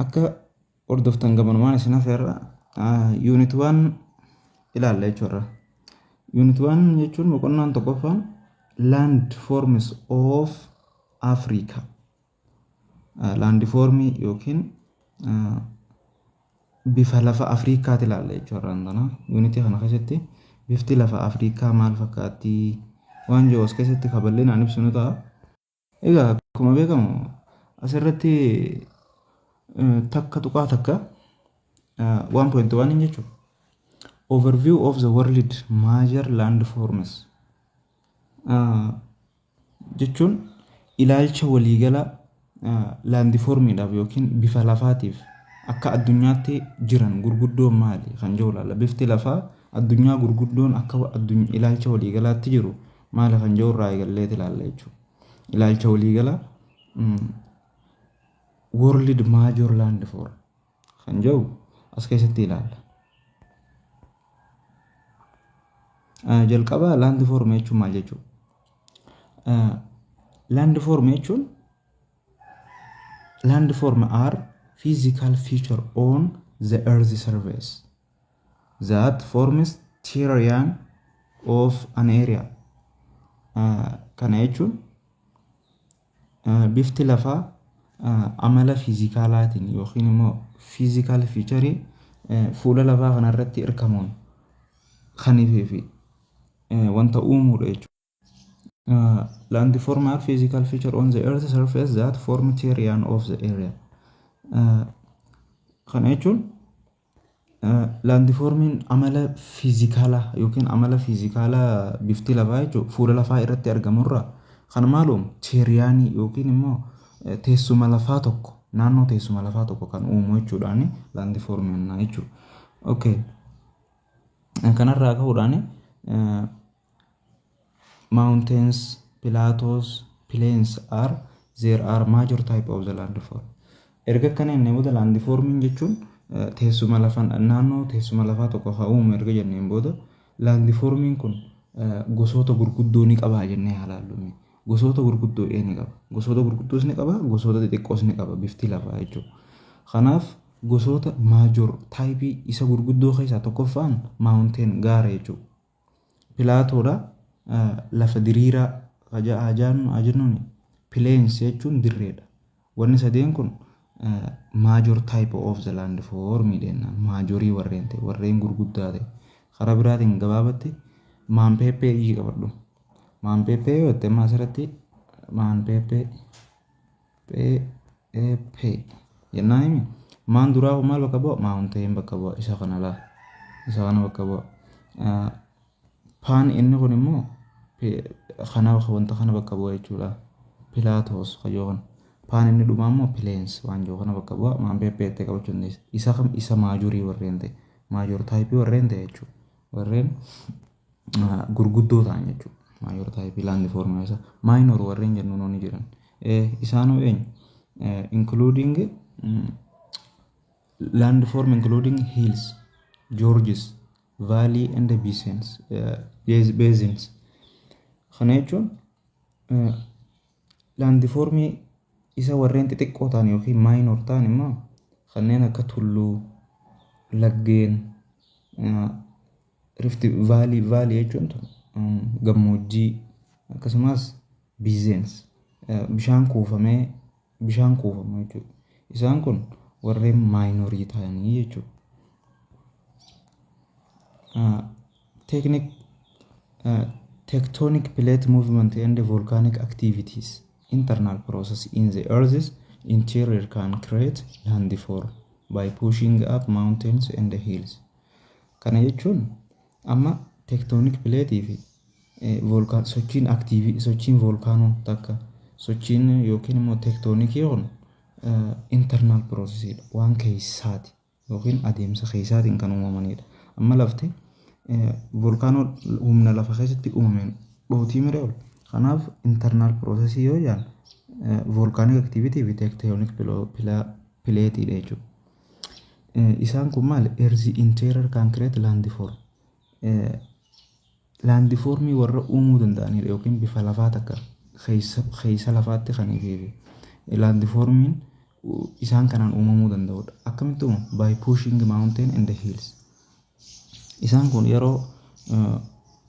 Akka hordoftan gamanumaan isin hafeerra yuunit waan ilaalla jechuudha. Yuunit waan jechuun boqonnaan tokkoffaan land forms of Africa. Land formii yookiin bifa lafa Afrikaati ilaalla jechuudha. Yuunitii kana keessatti bifti lafa Afrikaa maal fakkaatti waan jiru as keessatti kaballinaan ibsinu ta'a. Egaa akkuma beekamu asirratti takka tuqaa takka 1.1 jechuudha. Overview of the world major landforms jechuun ilaalcha waliigalaa laandifoormiidhaaf yookiin bifa lafaatiif akka addunyaatti jiran gurguddoon maali kan jiru ilaalla. Bifti lafaa addunyaa gurguddoon akka ilaalcha waliigalaatti jiru maala kan jiru irraa eegallee ilaalla jechuudha. Ilaalcha waliigala World Major Land for kan jiru as keessatti ilaalla. Jalqaba land form jechuun maal jechuudha? Land form jechuun land form are physical feature on the earth surface that forms terrain of an area kana jechuun bifti lafaa amala fiizikaalaatiin yookiin immoo fiizikaal fiicharii fuula lafaa kanarratti hirkamuun kan fi wanta uumuudha jechuudha. Uh, landform are physical feature on the earth surface that form terrain of the area uh, kana jechuun uh, landformiin amala fiizikaalaa yookiin amala fiizikaalaa bifti lafaa jechuun fuula lafaa irratti argamurraa kan maaluum teeriyaanii yookiin immoo eh, teessuma lafaa tokko naannoo teessuma lafaa tokko kan uumu jechuudhaani landformiin jechuudha. Okay. Kanarraa ka'uudhaani eh, Mountains, plateaus, plains are there are major type of the landform. Erga akkana jennee booda landforming jechuun eh, teessuma lafa naannoo teessuma lafaa tokko haa uumu erga jenneen booda landforming kun eh, gosoota gurguddoo ni qabaa jennee haa laallume. Gosoota gurguddoo ee ni qaba. Gosoota gurguddoos ni qaba, gosoota xixiqqoos ni qaba bifti lafaa jechuudha. Kanaaf gosoota major taayipii isa gurguddoo keessaa tokkoffaan mountain gaara jechuudha. Pilaatoodha. Lafa diriiraa haa jennuun plains jechuun dirreedha. Wanni sadeen kun major type of the land form dha. Maajorii warreen ta'e warreen gurguddaa ta'e. Karaa biraatiin gabaabatti maanpeeppee iyyi qabadhu. Maanpeeppee yoo ta'e asirratti maanpeeppee. PAP jennaan himi maan duraa kun maal bakka bu'a maawunteen bakka bu'a isa kana laa isa kana bakka bu'a paan inni kun immoo kana wanta kana bakka bu'a jechuudha pilaatoos kayyoo kana paan inni dhumaa immoo pileensi waan jiru kana bakka bu'a maan PP jettee qabachuu dandeessi isa kam isa maajurii warreen ta'e maajuur taayipii warreen ta'e jechuudha warreen gurguddoo ta'an jechuudha. Maayoor taayipii laandi foormula isaa. Maayinoor warreen jennuun ni jiran. Isaan hoo eenyu? Including land form including hills, gorges, valley and basins, basins. Kana jechuun laandi foormii isa warreen xixiqqoo ta'an yookiin maayinoor ta'an immoo kanneen akka tulluu, laggeen, Rifti vaalii vaalii jechuun tun gammoojjii akkasumas biizeens bishaan kuufamee bishaan kuufamu jechuudha. Isaan kun warreen maayinorii ta'anii jechuudha. Teeknik tectonic plate movement and volcanic activities internal process in the earth's interior can create landform by pushing up mountains and hills Kana jechuun amma tektoonik pileetii fi voolkaan sochiin aktiivii sochiin voolkaanoo takka sochiin yookiin immoo tektoonikii kun internal process dha waan keessaati yookiin adeemsa keessaatiin kan uumamanidha. Amma lafti voolkaanoo humna lafa keessatti uumameen dhootii mire ol kanaaf internal process yoo jedhan voolkaanik aktiivitii fi tektoonik pileetiidha jechuudha. Isaan kun maal? Earth interior can create landform. Landformii warra uumuu danda'anidha yookiin bifa lafaa takka keessa lafaatti kan fi landformiin isaan kanaan uumamuu danda'udha. Akkamitti uumamu? By pushing mountain and hills. Isaan kun yeroo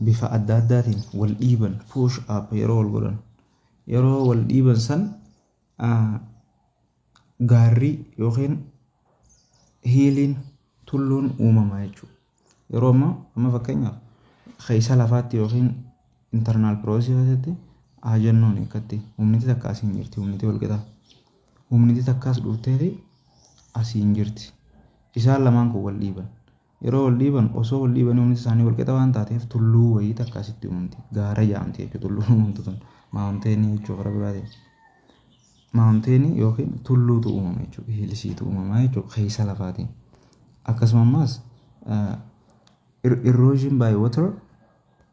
bifa adda addaatiin wal dhiiban push up yeroo wal godhan yeroo wal dhiiban san gaarri yookiin hiiliin tulluun uumama jechuudha. Yeroo ammaa amma fakkeenyaaf keessa lafaatti yookiin internal process keessatti haa jennuun akkatti humniti takka asiin jirti humniti walqixa humniti takkaas dhuftee fi asiin jirti isaan lamaan kun wal dhiiban Yeroo wal dhiiban osoo wal dhiibanii humni isaanii wal qixa waan taateef tulluu wayii takka asitti uumamti. Gaara jaamti jechuudha tulluun uumamtu tun. Maawunteenii jechuudha karaa biraatiin. Maawunteenii yookiin tulluutu uumama jechuudha. Hiilisiitu uumama jechuudha keessa lafaatiin. Akkasuma ammas irroojiin baay water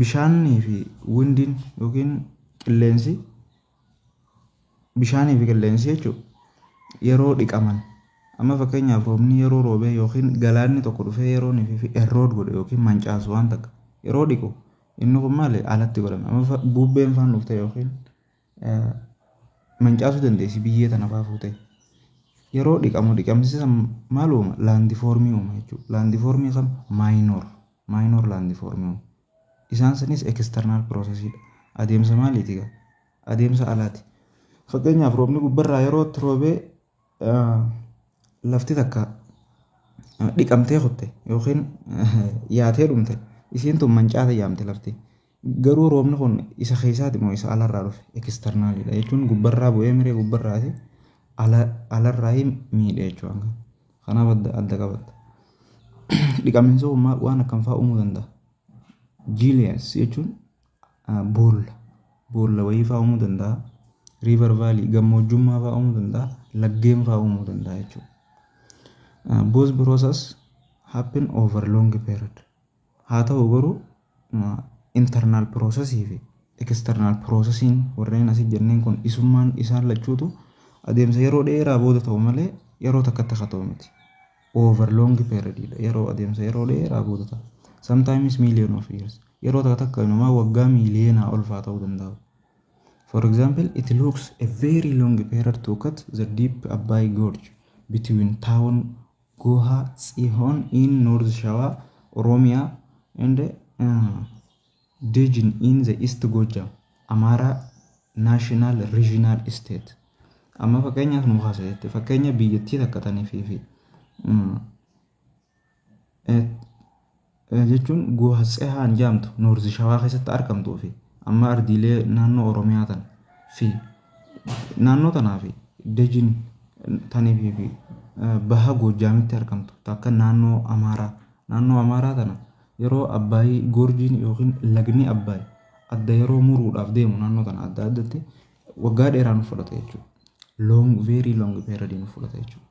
Bishaanii fi windiin yookiin qilleensi bishaanii fi qilleensi jechuun yeroo dhiqaman amma fakkeenyaaf roobni yeroo roobee yookiin galaanni tokko dhufee yeroo inni fi errood godhe yookiin mancaasu waan takka yeroo dhiqu inni kun maali alatti godhama amma bubbeen faan dhufte yookiin mancaasuu dandeessi biyyee tana faa fuutee. Yeroo dhiqamu dhiqamsi san maal uuma? Laandifoormii uuma jechuudha. Laandifoormii kam? Maayinoor. Maayinoor laandifoormii uuma. Isaan sanis eksternaal piroosesiidha. Adeemsa maaliiti gaa? Adeemsa alaati. Fakkeenyaaf roobni gubbarraa yeroo itti roobee lafti takka dhiqamtee kutte yookiin yaatee dhumte isiin tun mancaate jaamte lafti. Garuu roobni kun isa keessaati moo isa alarraa dhufe? External dha jechuun gubbarraa bu'ee miree gubbarraati alarraa miidhe jechuudha. Kanaaf adda adda qabatta. Dhiqamiinsa uumaa waan akkam fa'aa uumuu danda'a? Gilias jechuun boolla boolla wayii fa'aa uumuu danda'a. River valley gammoojjummaa fa'aa uumuu danda'a. Laggeen fa'aa uumuu danda'a jechuudha. Both process happen over long period. Haa ta'u garuu internal process fi external processing warreen asii jenneen kun isummaan isaan lachuutu adeemsa yeroo dheeraa booda ta'u malee yeroo takkatti akka ta'u miti. Over long period dha. Yeroo adeemsa yeroo dheeraa booda ta'a. Sometimes million of years. Yeroo takka takka inumaa waggaa miiliyoonaa olfaa ta'uu danda'u. For example, it looks a very long period to cut the deep Abbaay Gorge between town Goha Tsihoon in North Shawa, Oromia and uh, Dejin in the East Gojjam, Amara National Regional State. Amma fakkeenyaaf nu kaasa jette fakkeenya biyyattii takka taniif fi jechuun Guha Tsehaan jaamtu Noorzi Shawaa keessatti argamtuu fi amma ardiilee naannoo Oromiyaa tan fi naannoo tanaa fi Dejin tanii fi fi Baha Goojjaamitti argamtu takka naannoo Amaaraa naannoo Amaaraa tana yeroo Abbaayii Goorjiin yookiin lagni Abbaay adda yeroo muruudhaaf deemu naannoo tana adda addatti waggaa dheeraa nu fudhata jechuudha. Long very long period nu fudhata jechuudha.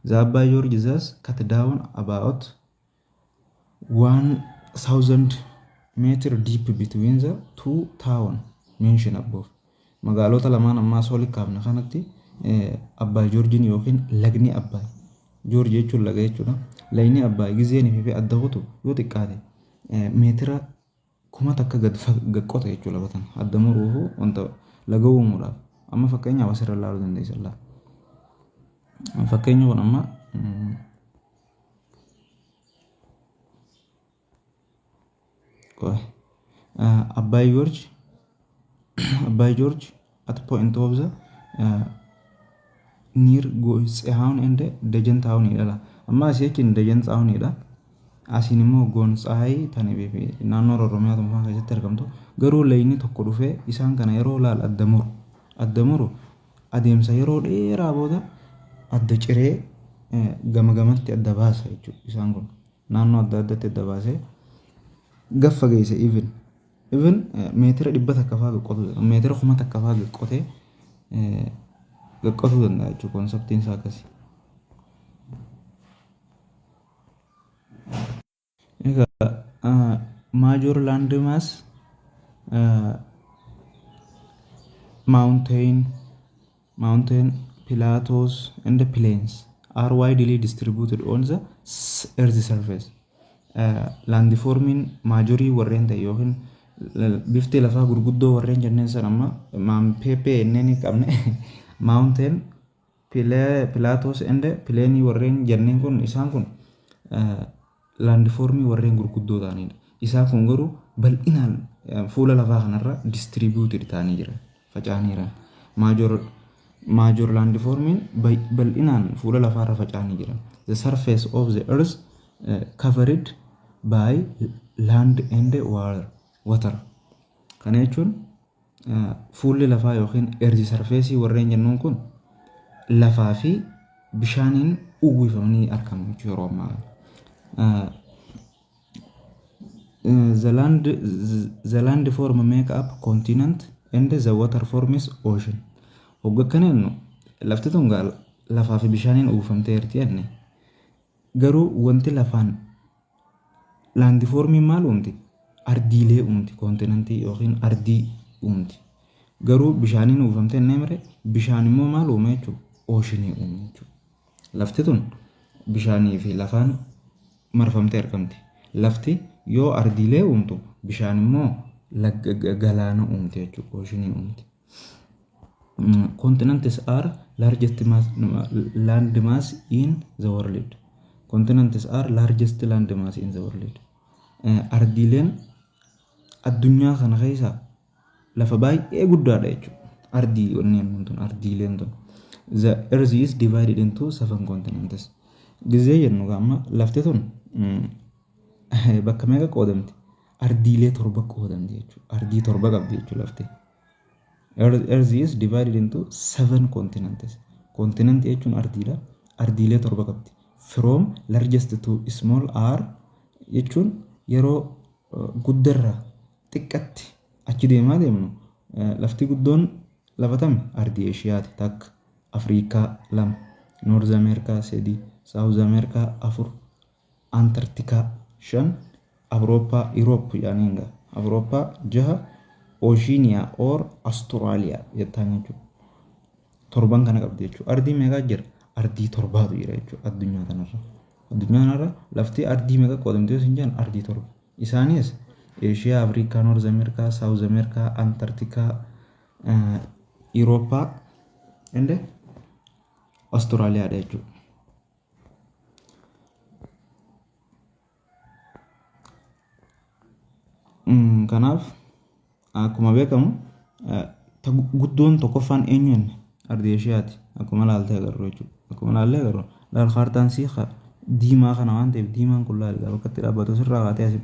The Abbaay George thus cut down about 1000 meter deep between the two town mention above magaalota lamaan ammaa soo likkaafne kanatti abbaa joorjiin yookiin lagni abbaa joorji jechuun laga jechuudha lagni abbaa gizeen fi adda kutu yoo xiqqaate meetira kuma takka gad gad qota jechuu lafa tana adda muruufu wanta laga uumuudhaaf amma fakkeenyaaf asirra ilaaluu dandeessan laa fakkeenyi kun amma Abbaay Joorji Abbaay Joorji at point of the uh, near Goonsahaun and Dajan Town jedha. Amma asii achiin Dajan Town jedha. Asiin immoo Goonsahay tani beebi naannoo Oromiyaa tokko keessatti argamtu. Garuu layni tokko dhufee isaan kana yeroo laal adda muru. Adda muru adeemsa yeroo dheeraa booda adda ciree eh, gama gamatti adda baasa jechuudha isaan kun. Naannoo adda addatti adda baasee gaffa geesse even Even meetira dhibba takka fa'aa qotuu danda'a. Meetira kuma takka fa'aa qotee qotuu danda'a jechuudha konseptiin isaa akkasi. Egaa maajoor laandii maas maawunteeyin mountain, plateaus, and plains are widely distributed on the earth surface. Laandifoormiin maajorii warreen ta'e yookiin bifti lafaa gurguddoo warreen jenneen san amma maampeepee inneen qabne mountain, plateaus, and plains warreen jenneen kun isaan kun laandifoormii warreen gurguddoo ta'aniidha. Isaan kun garuu bal'inaan fuula lafaa kanarra distributed ta'anii jiran, faca'anii jiran. Major major laandifoormiin bal'inaan fuula lafaarra faca'anii jiran. The surface of the earth uh, covered by land and water. Kana jechuun Fuulli lafaa yookiin erzi sarfeesii warreen jennuun kun lafaa fi bishaaniin uwwifamanii argamu jechuudha yeroo ammaa kana. The land, the land form make up continent and the water forms ocean. Hogga akkana jennu lafti tun gaa lafaa fi bishaaniin uwwifamtee jirti jenne. Garuu wanti lafaan laandifoormiin maal uumti? Ardiilee uumti, koontinantii yookiin ardii uumti. Garuu bishaaniin uwwifamtee hin deemre, bishaan immoo maal uuma jechuudha? Ooshinii uuma jechuudha. Lafti tun bishaanii fi lafaan marfamtee argamti. Lafti yoo ardiilee uumtu, bishaan immoo galaana uumti jechuudha, ooshinii uumti. Continents are largest mass, land mass in the world. Continents are largest land mass in the world. Eh, Ardiileen addunyaa kana keessa lafa baay'ee guddaadha jechuudha. Ardii wanneen kun tun ardiileen tun. The earth is divided into seven continents. Gizee jennu amma lafti tun mm, bakka meeqa qoodamti? ardiilee torba qoodamti jechuudha. Ardii torba qabdi jechuudha lafti. Earth is divided into seven continents. Continent jechuun ardiidha. Ardiilee torba qabdi. From largest to small are jechuun yeroo guddarraa xiqqatti achi deemaa deemnu lafti guddoon lafatam ardii Eeshiyaati takka Afriikaa lama Noorz Ameerikaa sadii Saawuz Ameerikaa afur Antarctica 5 Awurooppaa, Europe jedhaniin gaa. Awurooppaa 6 Oceania or Australia jettaan jechuudha. Torban kana qabdi jechuudha. Ardii meeqaa jira? Ardii torbaatu jira jechuudha addunyaa kanarra. Addunyaa kanarra lafti ardii meeqa qoodamte yoo sin jedhan ardii torba. Isaanis Eeshiyaa, Afrikaa, Noorz Ameerikaa, Saawuz Ameerikaa, Antarctica, Awurooppaa, and Australia dha jechuudha. Kanaaf akkuma beekamu guddoon tokkoffaan eenyuun ardii Eshiyaati. Akkuma ilaaltee agarru jechuudha. Akkuma ilaallee agarru laal kaartaan sii diimaa kana waan ta'eef diimaan kun laal bakka itti dhaabbatu sirraa kaatee asi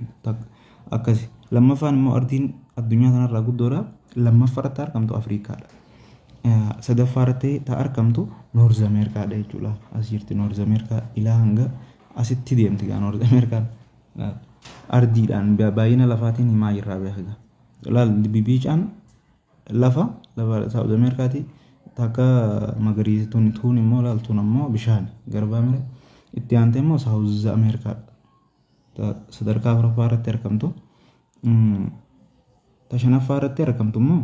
akkasi. Lammaffaan immoo ardiin addunyaa kanarraa guddoodha. Lammaffaarratti argamtu Afrikaadha. sadaffaa irratti ta arkamtu North America dha jechuudha. As jirti North America ilaa hanga asitti deemti gaa North America ardiidhaan baay'ina lafaatiin himaa jirraa beekaga. Laal bibiicaan lafa lafa South America ti takka magariisa tun tuun immoo laal tun ammoo bishaan garbaa mire itti aantee immoo South America sadarkaa afuraffaa irratti arkamtu. Ta shanaffaa irratti arkamtu immoo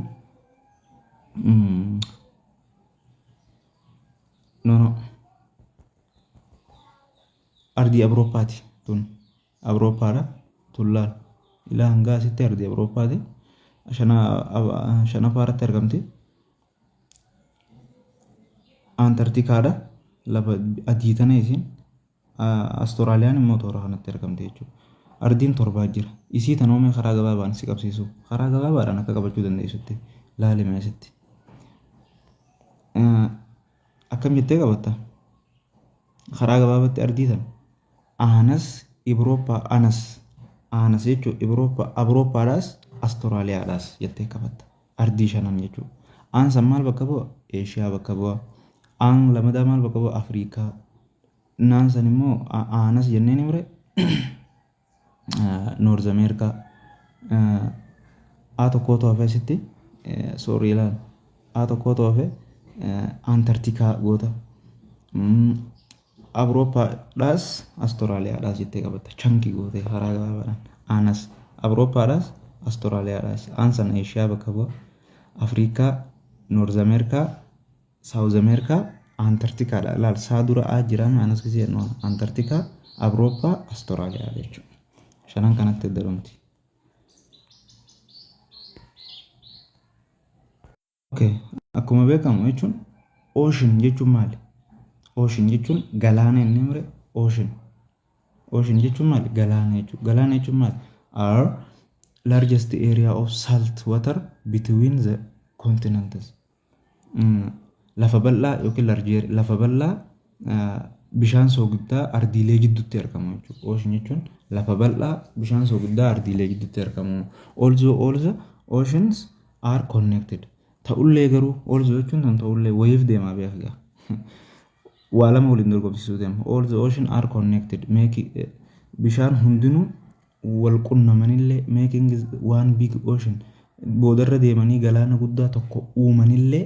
Nono. Ardii Awurooppaati tun. Awurooppaadha. Tun laal. Ilaa hangaa asitti ardii Awurooppaati. Shanaffaa irratti argamti. Antarktikaadha. Lafa adii tana isiin. Astoraaliyaan immoo toora kanatti argamti jechuudha. Ardiin torbaa jira. Isii tan oomee karaa gabaabaan si qabsiisu. Karaa gabaabaadhaan akka qabachuu dandeessutti laali meesitti. Akkam jettee qabatta? Karaa gabaabatti ardii tan aanas Ibrooppaa anas aanas jechuun Ibrooppaa Abrooppaadhaas Astiraaliyaadhaas jettee qabatta. Ardii shanan jechuudha. Aan san maal bakka bu'a? Eeshiyaa bakka bu'a. Aan lamadaa maal bakka bu'a? Afriikaa. Naan san immoo aanas jennee ni mure. Noorz Ameerikaa. A tokkootu hafee asitti soorii ilaal. A tokkootu hafee Antartikaa goota. Awurooppaadhaas Astiraaliyaadhaas jettee qabatta. Chankii gootee karaa gabaabaadhaan. Aanas Awurooppaadhaas Astiraaliyaadhaas. Aan sana Eeshiyaa bakka bu'a. Afriikaa, Noorz Ameerikaa, Saawuz Ameerikaa, Antarktikaadha. Ilaal saa dura A jira maanas gisee jennu waan. Antarktikaa, Awurooppaa, Astiraaliyaa jechuudha. Shanan kanatti adda dhumti. Okay. Akkuma beekamu jechuun ocean jechuun maali? Ocean jechuun galaana inni mure ocean. Ocean jechuun maali? Galaana jechuudha. Galaana jechuun maali? Are largest area of salt water between the continents. Mm. Lafa bal'aa yookiin large area- lafa bal'aa bishaan soogiddaa ardiilee jidduutti argamu jechuudha. Ocean jechuun lafa bal'aa bishaan soogiddaa ardiilee jidduutti argamu. Also all the oceans are connected. Ta'ullee garuu also jechuun kan ta'ullee wayiif deemaa beeka gaa. Waa lama waliin dorgomsiisuu deema. All the ocean are connected. Making, eh, bishaan hundinuu wal qunnamanillee making is one big ocean. Boodarra deemanii galaana guddaa tokko uumanillee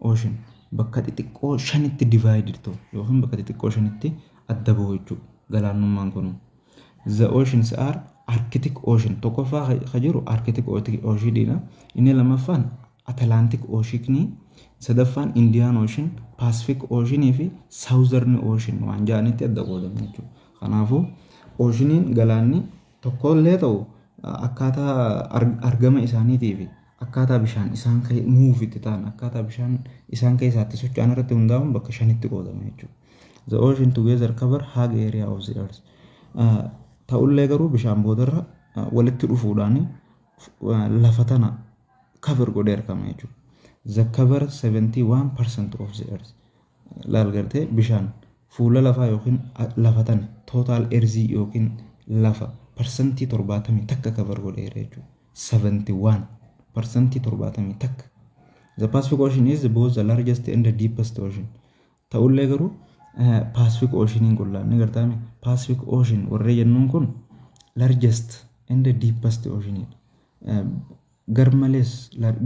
Ocean bakka xixiqqoo shanitti divided ta'u yookiin bakka xixiqqoo shanitti adda bahu jechuudha. Galaannummaan kun the oceans are Arctic Ocean tokkoffaa ka jiru Arctic Ocean dha. Inni lammaffaan Atlantic Ocean, sadaffaan Indian Ocean, Pacific Ocean fi Southern Ocean waan jedhanitti adda qoodamu jechuudha. Kanaafuu oceaniin galaanni tokkollee ta'u akkaataa argama isaaniitii fi Akkaataa bishaan isaan kee move itti ta'an akkaataa bishaan isaan keessaa itti socho'an irratti hundaa'uun bakka shanitti qoodama jechuudha. The ocean together cover hug area of the earth. Uh, Ta'ullee garuu bishaan boodarra uh, walitti dhufuudhaan uh, lafa tana cover godhee argama jechuudha. The cover 71% of the earth. laal gartee bishaan fuula lafaa yookiin lafa tana tootaal erzii yookiin lafa parsantii torbaatamii takka kabar godheera jechuudha. 71 parsantii torbaatamii takka. The Pacific Ocean is both the largest and the deepest ocean. Ta'ullee garuu Pacific Oceaniin kun laanni gartaame Pacific Ocean warree jennuun kun largest and the deepest oceanidha. Garmalees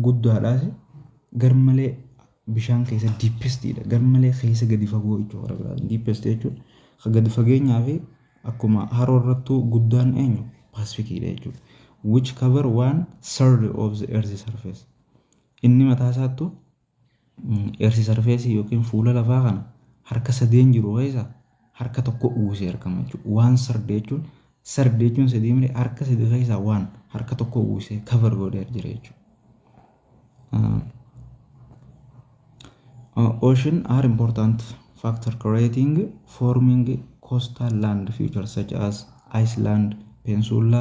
guddaadhaas garmalee bishaan keessa diippestiidha. Garmalee keessa gadi fagoo jechuudha warra biraatiin. Diippesti jechuun kan gadi fageenyaa fi akkuma haroo irrattuu guddaan eenyu paasifikiidha jechuudha. Which cover one third of the earth surface. Inni mataa isaattu Earth surface yookiin fuula lafaa kana harka sadeen jiru keessa harka tokko uwwisee argama jechuudha. Waan sardi jechuun sardi jechuun sadii miti harka sadii keessaa waan harka tokko uwwisee cover godhee jira jechuudha. Uh, ocean are important factor creating forming coastal land features such as Iceland, Peninsula,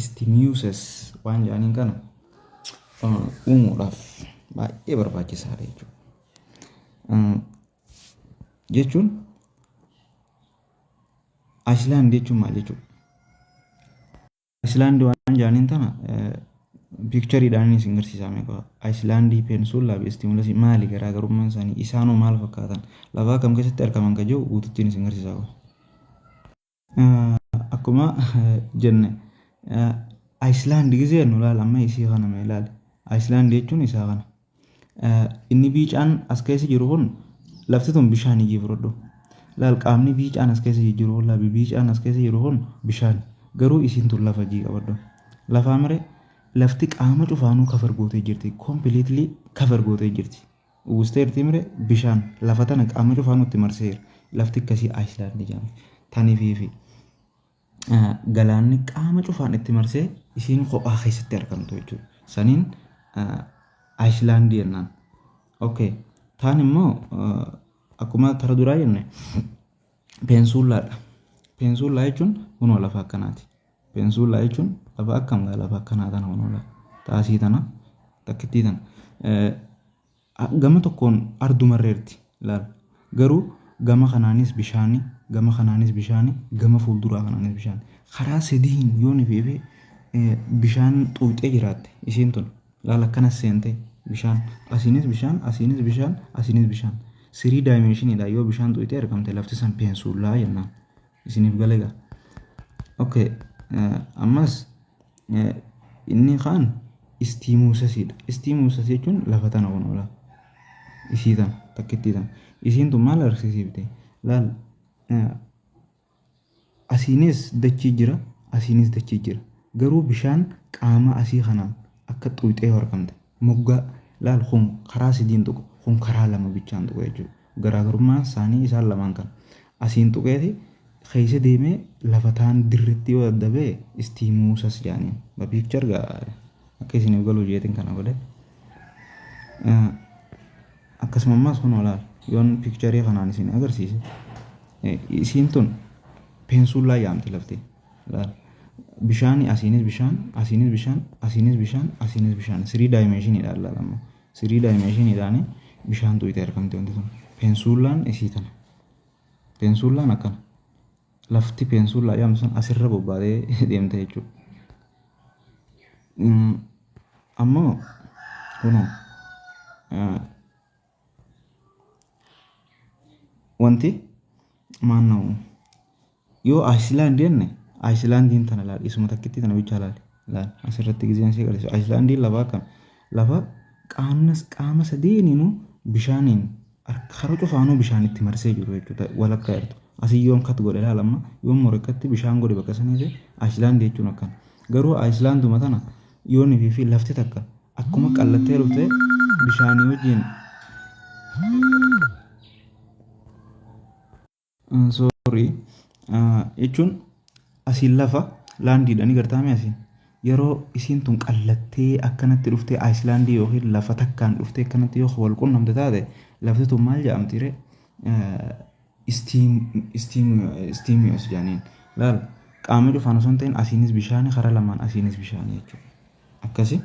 istimuses waan jedhaniin kana uumuudhaaf baay'ee barbaachisaadha jechuudha. Jechuun Ayislaand jechuun maal jechuudha? Ayislaand waan jedhaniin tana piikchariidhaan isin garsiisaame qaba. Ayislaandii peensullaa fi istimulasii maali garaagarummaan isaanii isaanoo maal fakkaatan lafaa kam keessatti argaman ka jiru guututtiin isin garsiisaa qaba. Akkuma jenne Ayislaand gizee nu laal amma isii kana mee laal. Ayislaand jechuun isaa kana. Inni biicaan as keessa jiru kun lafti tun bishaan ijii fudhadhu. Laal qaamni biicaan as keessa jiru kun labi biicaan as keessa jiru kun bishaan garuu isiin tun lafa ijii qabadhu. Lafaa mire lafti qaama cufaanuu kafar gootee jirti. Completely kafar gootee jirti. Uwwistee irti himre bishaan lafa tana qaama cufaa nutti marseera. Lafti akkasii Ayislaandi jedhamti. Tanifiifi galaanni qaama cufaan itti marsee isiin kophaa keessatti argamtu jechuudha. Saniin Ayislaandi jennaan. Okay. Taan immoo akkuma tara duraa jenne peensuullaadha. Peensuullaa jechuun kunoo lafa akkanaati. Peensuullaa jechuun lafa akkam gaa lafa akkanaa tana kunoo lafa xaasii tana takkittii tana gama tokkoon ardumarreerti laal garuu gama kanaanis bishaani gama kanaanis bishaani gama fuulduraa kanaanis bishaani karaa sadiin yoon ifeefee bishaan xuuxee jiraatte isiin tun laal akkanas seentee bishaan asiinis bishaan asiinis bishaan asiinis bishaan sirii daayimeeshiniidha yoo bishaan xuuxee argamte lafti san peensuullaa jennaan isinif gale ga ok ammas inni kaan istiimuusasiidha istiimuusas jechuun lafa tana kun ola isii tana takkittii tana isiin tun maal agarsiisiifte laal asiinis dachii jira asiinis dachii jira garuu bishaan qaama asii kanaan akka xuuxee horkamte Moggaa, laal kun karaa sadiin tuqa, kun karaa lama bichaan tuqa jechuudha. Garaagarummaan isaanii isaan lamaan kana. Asiin tuqeeti keessa deemee lafa taan dirritti yoo adda ba'e istiimuusas jedhaniin. The picture gaa akka isiniif galu jeetiin kana godhe. Akkasuma ammaas kun olaal yoon piikcharii kanaan isin agarsiise isiin tun peensuullaa yaamti lafti. Laal. Bishaani asiinis bishaan, asiinis bishaan, asiinis bishaan, asiinis bishaan. Sirii daayimeeshiniidhaan laal amma. Sirii daayimeeshiniidhaan bishaan tuyite argamti wanti sun. Peensuullaan isii tana. Peensuullaan akkana. Lafti peensuullaa jedhamtu sun asirra bobbaatee deemte jechuudha. Ammoo kunoo Wanti maannoo yoo Ayislaand jenne Ayislaandiin tana laal isuma takkitti tana bichaa laal laal asirratti gizeen si agarsiisu Ayislaandiin lafa akkam lafa qaamnas qaama sadeeniinuu bishaaniin harka cufaanuu bishaan itti marsee jiru jechuudha walakkaa jirtu asii yoon kat godhe laal amma yoon morekkatti bishaan godhe bakka saniifi Ayislaand jechuun akkana garuu Ayislaanduma tana yoon fi lafti takka Akkuma qallattee dhufte bishaanii wajjin sorry jechuun asiin lafa laandiidhaan gartaame asiin yeroo isiin tun qallattee akkanatti dhuftee Ayislaandii yookiin lafa takkaan dhuftee akkanatti yoo wal qunnamte taate lafti tun maal jedhamti ree steam steam yoo as jaaniin laal qaama cufaan osoo hin ta'in asiinis bishaani karaa lamaan asiinis bishaani jechuudha akkasi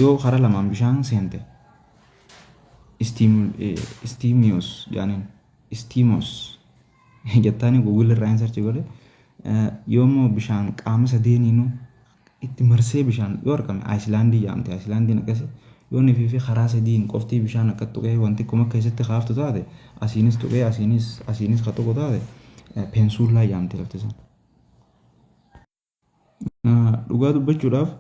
yoo karaa lamaan bishaan seente steamios jaaniin steamos jettaani google irraa hin sarchi godhe yoo immoo bishaan qaama sadeeniinuu itti marsee bishaan yoo argame Ayislaandii jaamti. Ayislaandiin akkasi yoo nifii fi karaa sadiin qoftii bishaan akka tuqee wanti xiqquma akka keessatti kaaftu taate asiinis tuqee asiinis asiinis ka tuqu taate peensuullaa jaamti lafti san. Dhugaa dubbachuudhaaf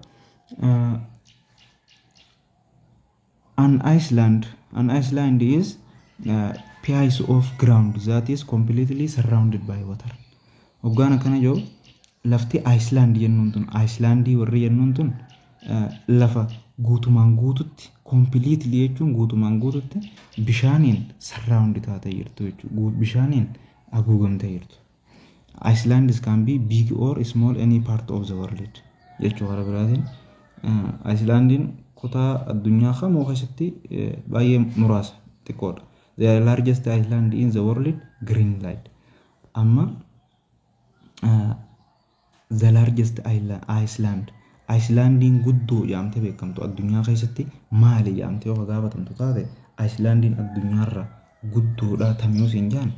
An island, An island is a piece of ground that is completely surrounded by water. Hoggaan akkana jiru lafti Iceland jennuun tun Icelandii warri jennuun tun eh, lafa guutumaan guututti completely jechuun guutumaan guututti bishaaniin surround taatee jirtu jechuudha. Bishaaniin haguugamtee jirtu. Icelands can be big or small any part of the world jechuu karaa biraatiin Icelandiin kutaa addunyaa kamuu keessatti baay'ee muraasa xiqqoodha. The largest island in the world Greenland. Amma The largest island, Ayislaandiin guddoo jedhamtee beekamtu addunyaa keessatti maali jedhamtee yoo gaafatamtu taate Ayislaandiin addunyaarra guddoodha tamiyuu siin jedhan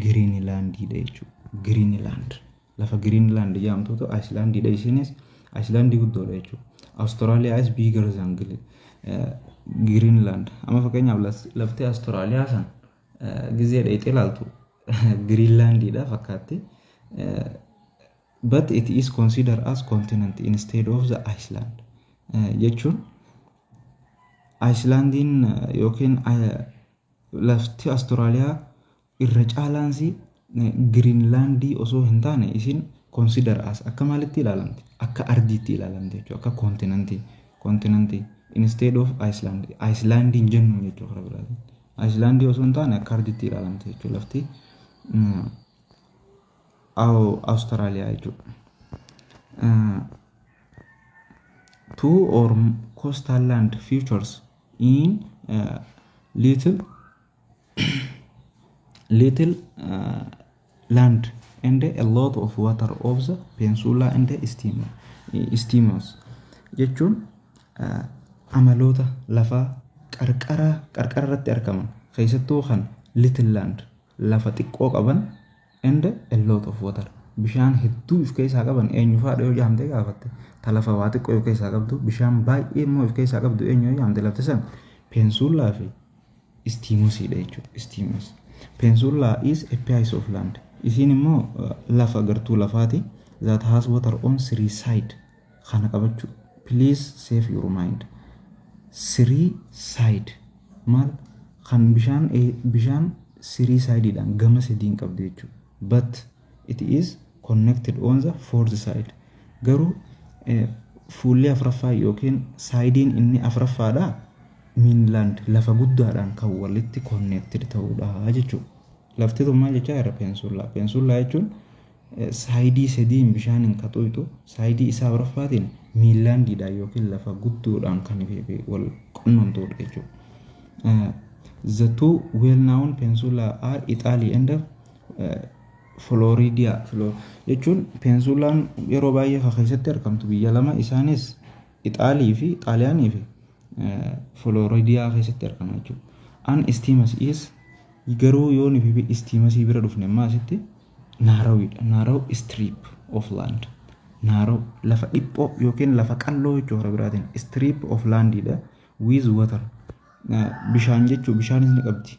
Giriinilaandiidha jechuudha. Giriinilaand lafa Giriinilaand jedhamtutu Ayislaandiidha isiinis Ayislaandii guddoodha jechuudha. Awustiraaliyaa is bigger than Giriinilaand. Amma fakkeenyaaf lafti Awustiraaliyaa san Gizee dhayxee laaltu Giriinlaandiidha fakkaatti. But it is considered as continent instead of the Iceland. Jechuun Icelandiin yookiin lafti Australia irra caalaansi Giriinlaandii osoo hin taane isiin consider as akka maalitti ilaalamti? Akka ardiitti ilaalamti jechuudha. Akka koontinantii koontinantii instead of Iceland Iceland hin jennu jechuudha karaa biraatiin. Iceland osoo hin taane akka ardiitti ilaalamti jechuudha lafti Awustiraaliyaa jechuudha. Two or coastal land features in little little land and a lot of water of the peninsula and the steamer steamers jechuun ah, amaloota lafaa qarqara qarqara irratti argaman keessattuu kan little land lafa xiqqoo qaban and a lot of water bishaan hedduu if keessaa qaban eenyu faadha yoo jaamtee gaafatte ta lafa waa xiqqoo if keessaa qabdu bishaan baay'ee immoo if keessaa qabdu eenyu yoo jaamte lafti san peensuullaa fi istiimosiidha jechuudha istiimos peensuullaa is a piece of land isiin immoo lafa gartuu lafaati that has water on three side kana qabachuu please save your mind sirii side maal kan bishaan ee- bishaan sirii side dhaan gama sadiin qabdu jechuu but it is connected on the fourth side garuu eh, fuulli afraffaa yookiin saayidiin inni afraffaadha miinlaand lafa guddaadhaan kan walitti connected ta'uudha jechuudha lafti tun maal jechaa irra peensullaa peensullaa jechuun Saayidii sadiin bishaaniin ka xuuxu, saayidii isaa arfaffaatiin miillaandiidhaan yookiin lafa guddoodhaan kan wal qunnamtuudha jechuudha. The two well-known peninsula are Italy and Floridia. Flor- Jechuun peninsula'n yeroo baay'ee ka keessatti argamtu biyya lama isaanis Ixaalii fi Xaaliyaanii fi Floridiyaa keessatti argama jechuudha. An istiimas is garuu yoo nufi fi istiimasii bira dhufne immoo asitti naarawiidha. Naaraw strip of land. Naaraw lafa dhiphoo yookiin lafa qalloo jechuu hara biraatiin strip of landidha with water. Bishaan jechuu bishaanis ni qabdi.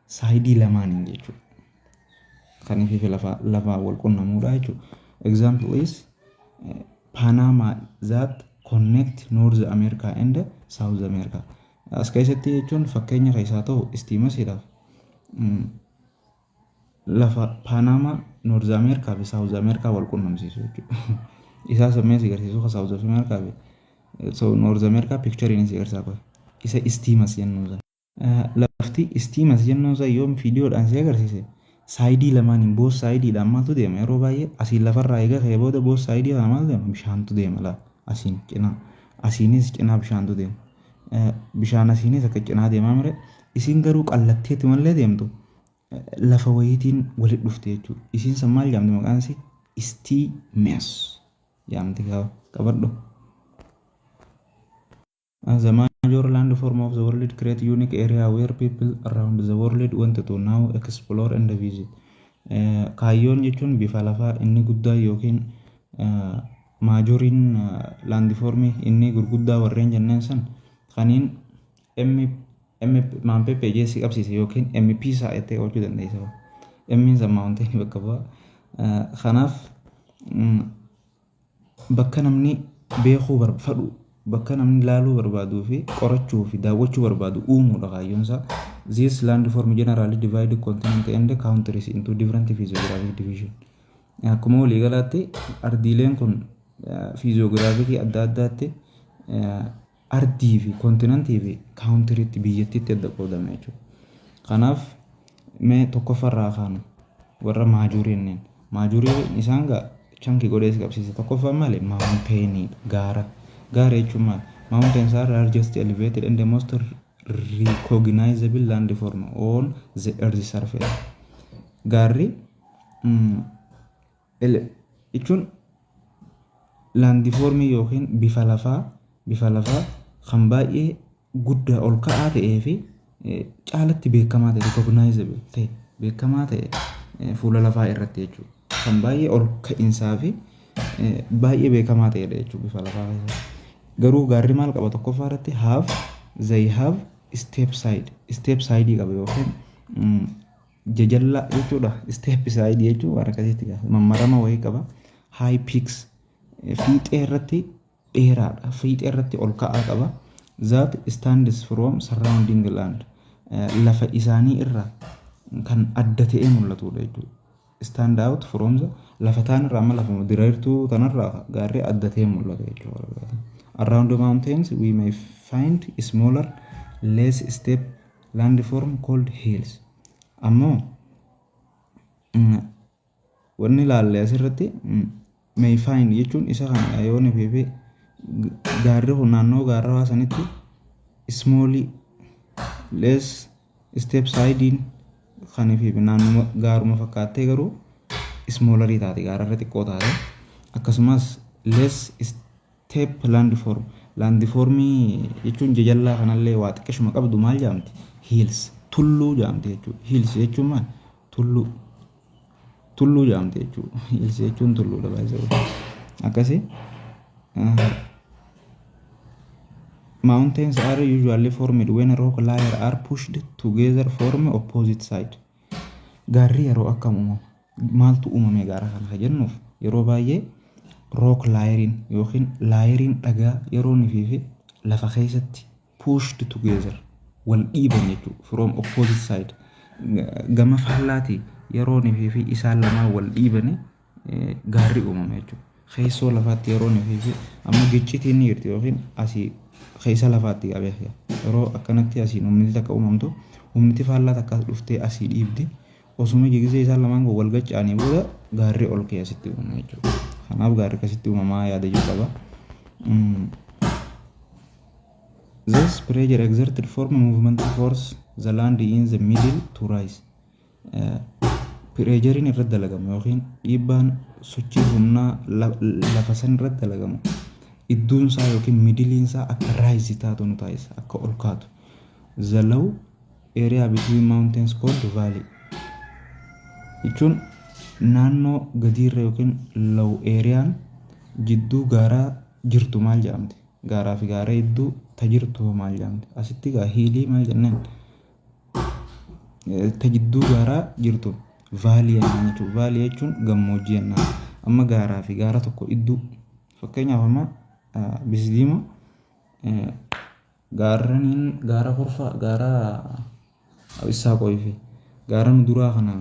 saayidii lamaaniin jechuudha. Kan ifiifi lafaa lafaa wal qunnamuudha jechuudha. Example is eh, Panama that connect North America and South America. As keessatti jechuun fakkeenya keessaa ta'u istiimasiidhaaf mm, lafa Panama North America fi South America wal qunnamsiisu jechuudha. Isaa sammee si garsiisu kan South America fi so North America picture inni si garsiisaa qofa. Isa istiimas jennuu sana. Lafti istiimas jennuun san yoom fiidiyoodhaan si agarsiise saayidii lamaaniin boos saayidiidhaan maaltu deema yeroo baay'ee asiin lafarraa eega ka'e booda boos saayidii kana maaltu deema bishaantu deema laa asiin cinaa asiinis cinaa bishaantu deema Eh, bishaan asiinis akka cinaa deemaa mire isiin garuu qallatteetti malee deemtu eh, lafa wayiitiin walitti dhufte jechuudha isiin san maal jaamti maqaan isii istiimas jaamti kaa qabadhu. As a major landform of the world create unique area where people around the world want to now explore and visit. Eh, Kaayyoon jechuun bifa lafaa inni guddaa yookiin eh, maajoriin laandifoormii inni gurguddaa warreen jenneen san kaniin MPPJ si qabsiise yookiin MP isaa jettee oolchuu dandeessa. M'n san maawuntiin bakka bu'a. Eh, Kanaaf mm, Bakka namni beekuu barbfadu, bakka namni laaluu barbaaduu fi qorachuu fi daawwachuu barbaadu uumuu dha kaayyoon isaa. These landform generally divide continents and countries into different physiographic division. Akkuma waliigalaatti ardiileen kun fiiziyoogiraafikii adda addaatti eh, ardii fi kontinantii fi kaawuntiriitti biyyattiitti adda qoodama jechuudha. Kanaaf mee tokkoffaa irraa kaanu warra maajuurii inneen maajuurii isaan gaa chanki godhee si qabsiisa tokkoffaa maali maawunteenii gaara gaara jechuun maali maawunteen isaa largest elevated and the most recognizable land form on the earth surface gaarri mm, L jechuun laandifoormii yookiin bifa lafaa bifa lafaa kan baay'ee guddaa ol ka'aa ta'ee fi caalatti beekamaa ta'e recognizable ta'e beekamaa ta'e fuula lafaa irratti jechuudha. Kan baay'ee ol ka'insaa fi baay'ee beekamaa ta'edha jechuudha bifa lafaa keessatti. Garuu gaarri maal qaba tokkoffaa irratti have they have step side step side qaba yookiin jajalla jechuudha step side jechuun waan akkasitti gaafa mammarama wayii qaba high peaks fiixee irratti dheeraadha fiixee irratti ol ka'aa qaba that stands from surrounding land lafa isaanii irra kan adda ta'ee mul'atudha jechuudha stand out from the lafa taan irraa amma lafuma diriirtuu tanarraa gaarri adda ta'ee mul'ata jechuudha around the mountains we may find smaller less step landform cold hills ammoo wanni ilaalle asirratti may find jechuun isa kana yoo ni beebee gaarri kun naannoo gaarrawaa sanitti small less step siding kan fi naannuma gaaruma fakkaattee garuu smoolarii taate gaararra xiqqoo taate akkasumas less Tape landform Landfoormii jechuun jajallaa kanallee waa xiqqishuma qabdu maal jaamti? Hills tulluu jaamti jechuudha. Hills jechuun maal? Tulluu. Tulluu jaamti jechuudha. Hills jechuun tulluudha baay'ee. Akkasii. Mountains are usually formed when rock layers are pushed together form opposite side. Gaarri yeroo akkam uumama? Maaltu uumamee gaara kana kan jennuuf yeroo baay'ee rook laayeriin yookiin laayeriin dhagaa yeroo nifiifi lafa keessatti pushed together wal dhiiban jechuudha. From opposite side gama faallaatii yeroo nifiifi isaan lamaan wal dhiibanii gaarri uumama jechuudha. Keessoo lafaatti yeroo nuti fi amma giccitiin ni jirti yookiin asii keessa lafaatti qabee yeroo akkanatti asiin humni takka uumamtu humni faallaa takka dhuftee asii dhiibdi osuma jigisee isaan lamaan kun wal gaccaanii booda gaarri ol kee asitti uumama jechuudha. Kanaaf gaarri akkasitti uumamaa yaada jiru qaba. This pressure exerted form movement force the land in the middle to rise. pireejariin irratti dalagamu yookiin dhiibbaan sochii humnaa lafa san irratti dalagamu iddoon isaa yookiin midiliin isaa akka raayisi taatu nu taasisa akka ol kaatu. The low area between mountains called valley jechuun naannoo gadiirra yookiin low areaan jidduu gaaraa jirtu maal jedhamti? Gaaraa fi gaara jidduu ta jirtu maal jedhamti? Asitti gaa hiilii maal jennaan? ta jidduu gaaraa jirtu vaalii jennaan jechuudha. Vaalii jechuun gammoojjii jennaan. Amma gaaraa fi gaara tokko jidduu fakkeenyaaf amma Bisdiimaa gaarraniin gaara Horfaa gaara Abissaaqoyii fi gaara nu duraa kana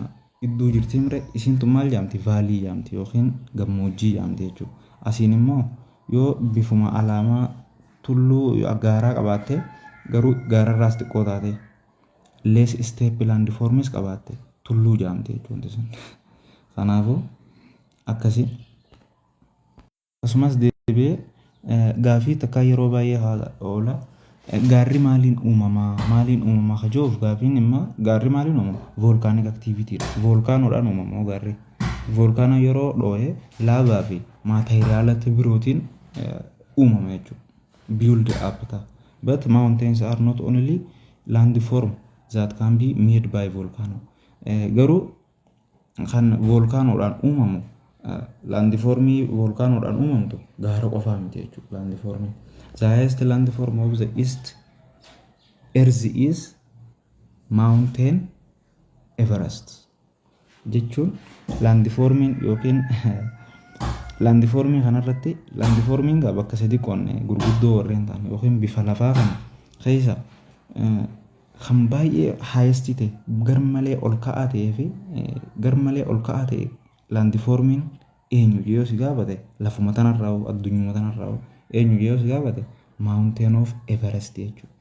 jidduu jirti mire isiin tun maal jedhamti vaalii jedhamti yookiin gammoojjii jedhamti jechuudha. Asiin immoo yoo bifuma alaamaa Tulluu gaaraa qabaatte, garuu gaararraas xiqqoo taate, less steep landforms qabaatte, tulluu jaamti jechuudha wanti sun. Kanaafuu akkasi. Akkasumas deebi'ee eh, gaafii takkaa yeroo baay'ee haala oola. Eh, Gaarri maaliin uumama? Maaliin uumama? Ka jiruuf gaafiin immoo gaarri maaliin uumama? Volcanic activity dha. Volkaanoodhaan uumama hoo gaarri. Volkaanoo yeroo dhoo'e laavaa fi maateriyaalota birootiin eh, uumama jechuudha. Build up ta'a. But mountains are not only landform that can be made by volcano. Eh, Garuu kan volkaanoodhaan uumamu eh, laandifoormii volkaanoodhaan uumamtu gaara qofaa miti jechuudha laandifoormii. The highest landform of the east earth is mountain Everest. jechuun laandifoormiin yookiin laandifoormii kanarratti laandifoormiin gaa bakka sadi qoonne gurguddoo warreen ta'an yookiin bifa lafaa kana keessa kan baay'ee haayestii ta'e garmalee ol ka'aa ta'ee fi garmalee ol ka'aa ta'e laandifoormiin eenyu yoo si gaafate lafuma tanarraa addunyaa tanarraa eenyu yoo si gaafate maawunteen oof everest jechuudha.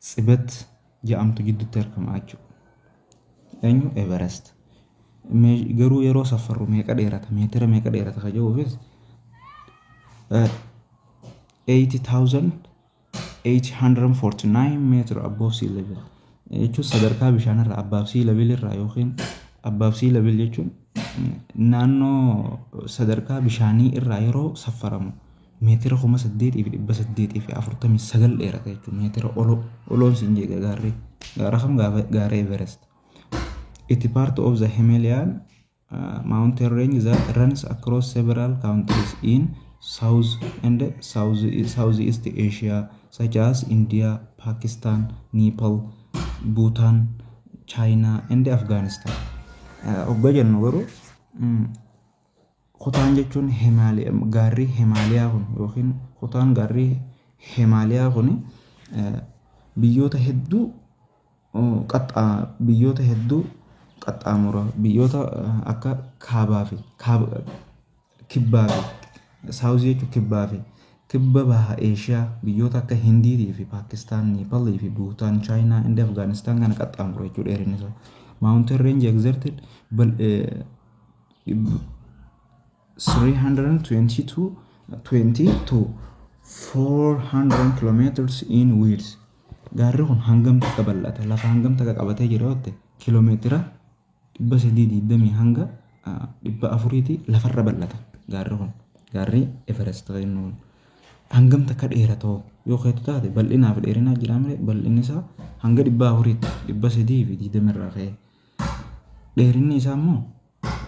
Tsibet ja'amtu jiddutti argama jechuudha. Eenyu Everest. Garuu yeroo safarru meeqa dheerata meetira meeqa dheerata ka jedhuufis 80,849 meetira above sea level jechuun sadarkaa bishaanirraa above sea level irraa yookiin above sea level jechuun naannoo sadarkaa bishaanii irraa yeroo safaramu meetira 8,849 dheerata jechuun meetira oloo oloon siin jeega gaarri gaara kam gaara Everest itti part of the Himalayan uh, mountain range that runs across several countries in South and South Southeast Asia such as India, Pakistan, Nepal, Bhutan, China and Afghanistan. Uh, Ogga jennu garuu mm, Kutaan jechuun gaarri Himaaliyaa kun yookiin kutaan gaarri Himaaliyaa kun biyyoota hedduu biyyoota hedduu qaxxaamura. Biyyoota akka kaabaa fi kibbaa fi saawuzii jechuun kibbaa fi kibba baha Eeshiyaa biyyoota akka Hindiitii fi Paakistaan, Neepaalii fi Buutaan, Chaayinaa, Indiyaa fi Afgaanistaan kana qaxxaamura jechuudha dheerinni isaa. Maawuntiin reenjii egzertid 322 22 400 kilometers in width gaarri kun hangam takka bal'ata lafa hangam takka qabatee jira yoo ta'e kilomeetira 320 hanga 400 ti lafarra bal'ata gaarri kun gaarri Everest jennu kun hangam takka dheerata hoo yoo keetu taate bal'inaaf dheerinaa jira malee bal'inni isaa hanga 400 ti 320 irraa ka'ee Dheerinni isaa immoo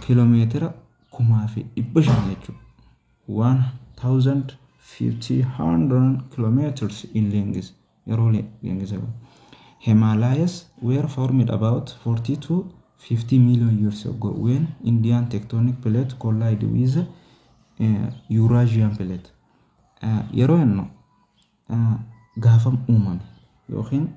kiiloomeetira kumaa fi dhibba shan jechuudha. Waan thousand fifty hundred kilometers in length yeroo length jedhu. Himalayas were formed about 40 to 50 million years ago when Indian tectonic plate collide with uh, Eurasian plate. Uh, yeroo jennu gaafam uumame yookiin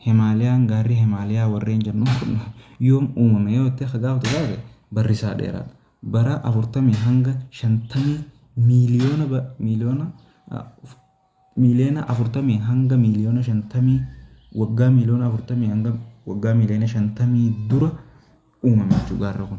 Himaaliyaan gaarri Himaaliyaa warreen jennu kun yoom uumame yoo itti akka gaafatu taate barrisaa dheeraadha. Bara 40 hanga 50 miiliyoona miiliyoona miiliyoona 40 hanga miiliyoona 50 waggaa miiliyoona 40 hanga waggaa miiliyoona 50 dura uumame jechuudha gaarri kun.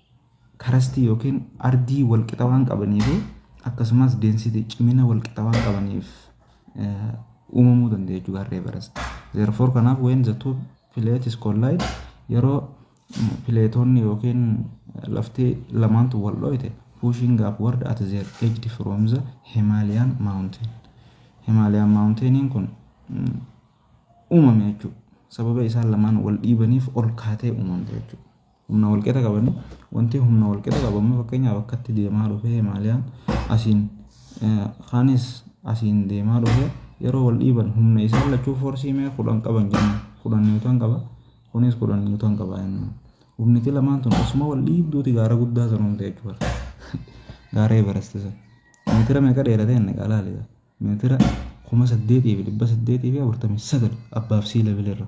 karastii yookiin ardii walqixa waan qabanii fi akkasumas density cimina walqixa waan qabaniif eh, uumamuu danda'a jechuudha garri Everest. Therefore kanaaf when the two plates collide yeroo mm, pileetoonni yookiin eh, lafti lamaantu wal dho'ite pushing upward at their edge from the Himalayan mountain. Himalayan mountainiin kun mm, uumame jechuudha. Sababa isaan lamaan wal dhiibaniif ol kaatee uumamte jechuudha. humna walqixa qabani wanti humna walqixa qabu amma fakkeenyaaf akkatti deemaa dhufe himaaliyaan asiin kaanis asiin deemaa dhufe yeroo wal dhiiban humna isaan lachuu foorsii mee kudhan qaban jenna kudhan niwutan qaba kunis kudhan niwutan qaba jenna humniti lamaan tun osuma wal dhiibduuti gaara guddaa san humte jechuudha gaara evarasti san meetira meeqa dheerate inni qaalaaliidha meetira kuma saddeetii fi dhibba saddeetii fi afurtamii sagal abbaaf sii levelirra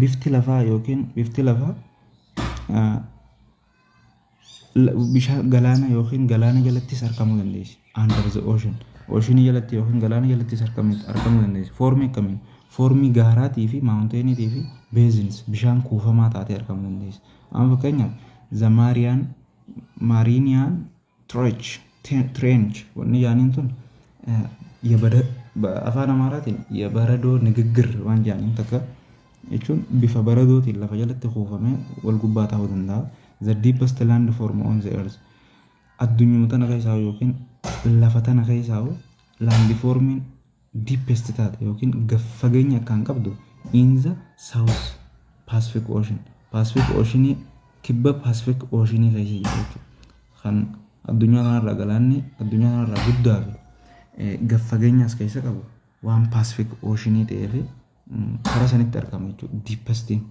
Bifti lafaa yookiin bifti lafaa bishaan galaana yookiin galaana jalattis argamuu dandeessi. Under the ocean. Oceanii jalatti yookiin galaana jalattis argamuu dandeessi. Foormii akkamiin? Foormii gaaraatii fi maawunteeniitii fi beezins bishaan kuufamaa taatee argamuu dandeessi. Amma fakkeenyaaf the Marian Marinian Trech, trench wanni jaaniin tun afaan amaaraatiin yabaradoo nigiggir waan jaaniin takka jechuun bifa baradootiin lafa jalatti kuufamee wal gubbaa ta'uu danda'a. The deepest land form on the earth. Addunyuma tana keessaa yookiin lafa tana keessaa laandi foormiin deepest taate yookiin gad fageenya akkaan qabdu in the south Pacific Ocean Pacific Ocean kibba Pacific Ocean keessa jirti jechuudha. Kan addunyaa kanarraa galaanni addunyaa kanarraa guddaa fi eh, gad fageenya as keessa qabu waan Pacific Ocean ta'ee fi mm, karaa sanitti argama jechuudha. Deepestiin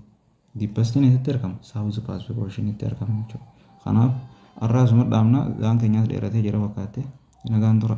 deepestiin eessatti argama? South Pacific Ocean itti argama jechuudha. Kanaaf har'aa asuma dhaabna gaan keenyaas dheeratee jira fakkaattee nagaan tura.